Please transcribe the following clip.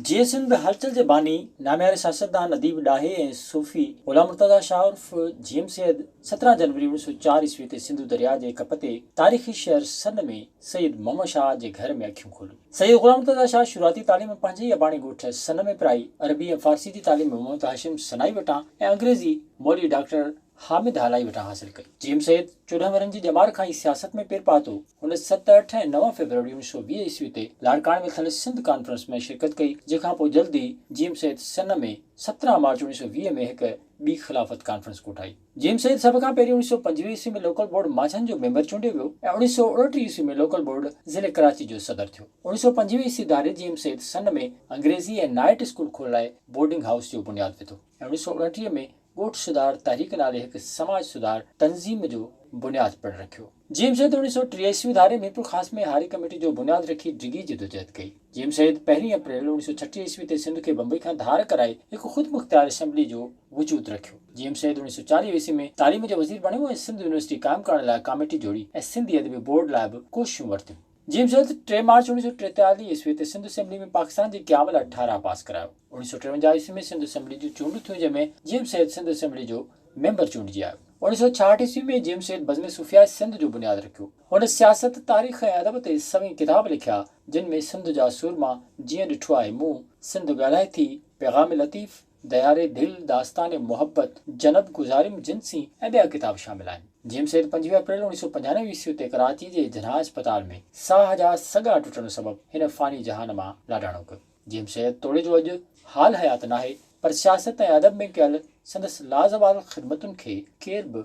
جيئي سنڌ هلچل جي باني، نامياري سياستدان، اديب، ڏاهي ۽ صوفي غلام مرتضيٰ شاهه عرف جيئم سيد سترهن جنوري اوڻيھ سؤ چار عيسوي تي سنڌو درياء جي ڪپ تي تاريخي شهر سن ۾ سيد محمد شاهه جي گهر ۾ اکيون کوليون. سيد غلام مرتضيٰ شاهه شروعاتي تعليم پنهنجي ئي اباڻي ڳوٺ سن ۾ پرائي، عربي ۽ فارسي جي تعليم محمد هاشم سنائي وٽان ۽ انگريزي مولوي ڊاڪٽر حامد هالائي وٽان حاصل ڪئي. جيئن سيد چوڏهن ورهين جي ڄمار کان ئي سياست ۾ پير پاتو، هن ست، اٺ ۽ نو فيبروري اڻويهه سؤ ويهه عيسوي تي لاڙڪاڻي ۾ ٿيل سنڌ ڪانفرنس ۾ شرڪت ڪئي، جنهن کان پوء جلد ئي جيئم سيد سن ۾ سترهن مارچ اڻويهه سؤ ويهه ۾ هڪ ٻي خلافت ڪانفرنس ڪوٺائي. جيم سيد سڀ کان پهرين اوڻيھ سؤ پنجويهه عيسوي ۾ لوڪل بورڊ ماڇن جو ميمبر چونڊيو ويو ۽ اوڻيھ سؤ اڻٽيھ عيسوي ۾ لوڪل بورڊ ضلعي ڪراچي جو صدر ٿيو. اوڻيھ سؤ پنجويهه عيسوي ڌاري جيم سيد سن ۾ انگريزي ۽ نائيٽ اسڪول کولرائي بورڊنگ هائوس جو بنياد وڌو ۽ اوڻيھ سؤ اڻٽيهه ۾ ڳوٺ سڌار تحريڪ نالي هڪ سماج سڌار تنظيم جو بنياد پڻ رکيو. جي ايم سيد اوڻيهه سؤ ٽيهه عيسوي ڌاري ميرپورخاص ۾ هاري ڪميٽي جو بنياد رکي ڊگهي جدوجهد ڪئي. جي ايم سيد پهرين اپريل اوڻيهه سؤ ڇٽيهه عيسوي تي سنڌ کي بمبئي کان ڌار ڪرائي هڪ خودمختيار اسيمبلي جو وجود رکيو. جي ايم سيد اوڻيهه سؤ چاليهه عيسوي ۾ تعليم جو وزير بڻيو ۽ سنڌ يونيورسٽي قائم ڪرڻ لاء ڪاميٽي جوڙي ۽ سنڌي ادبي بورڊ لاء به ڪوششون ورتيون. جيمز هيٿ ٽي مارچ اوڻيهه سؤ ٽيتاليهه عيسوي تي سنڌ اسيمبلي ۾ پاڪستان جي قيام لاء ٺهراء پاس ڪرايو. اوڻيهه سؤ ٽيونجاهه عيسوي ۾ سنڌ اسيمبلي جون چونڊون ٿيون جنهن ۾ جيمز هيٿ سنڌ اسيمبلي جو ميمبر چونڊجي آيو. اوڻيهه سؤ ڇاهٺ عيسوي ۾ جيمز هيٿ بزم صوفياء سنڌ جو بنياد رکيو. هن سياست، تاريخ ۽ ادب تي سوين ڪتاب لکيا جن ۾ سنڌ جا سورما، جيئن ڏٺو آهي مون، سنڌ ڳالهائي ٿي، پيغام لطيف، دياري دل، داستان محبت، جنت گذاريم جن سين ۽ ٻيا ڪتاب شامل آهن. جيم سيد پنجويهه اپريل اڻويهه سؤ پنجاهه عيسوي تي ڪراچي جي جناح اسپتال ۾ ساهه جا سڳا ٽٽڻ سبب هن فاني جهان مان لاڏاڻو ڪيو. جيم سيد توڙي جو اڄ حال حيات ناهي پر سياست ۽ ادب ۾ ڪيل سندس لازوال خدمتن کي ڪير به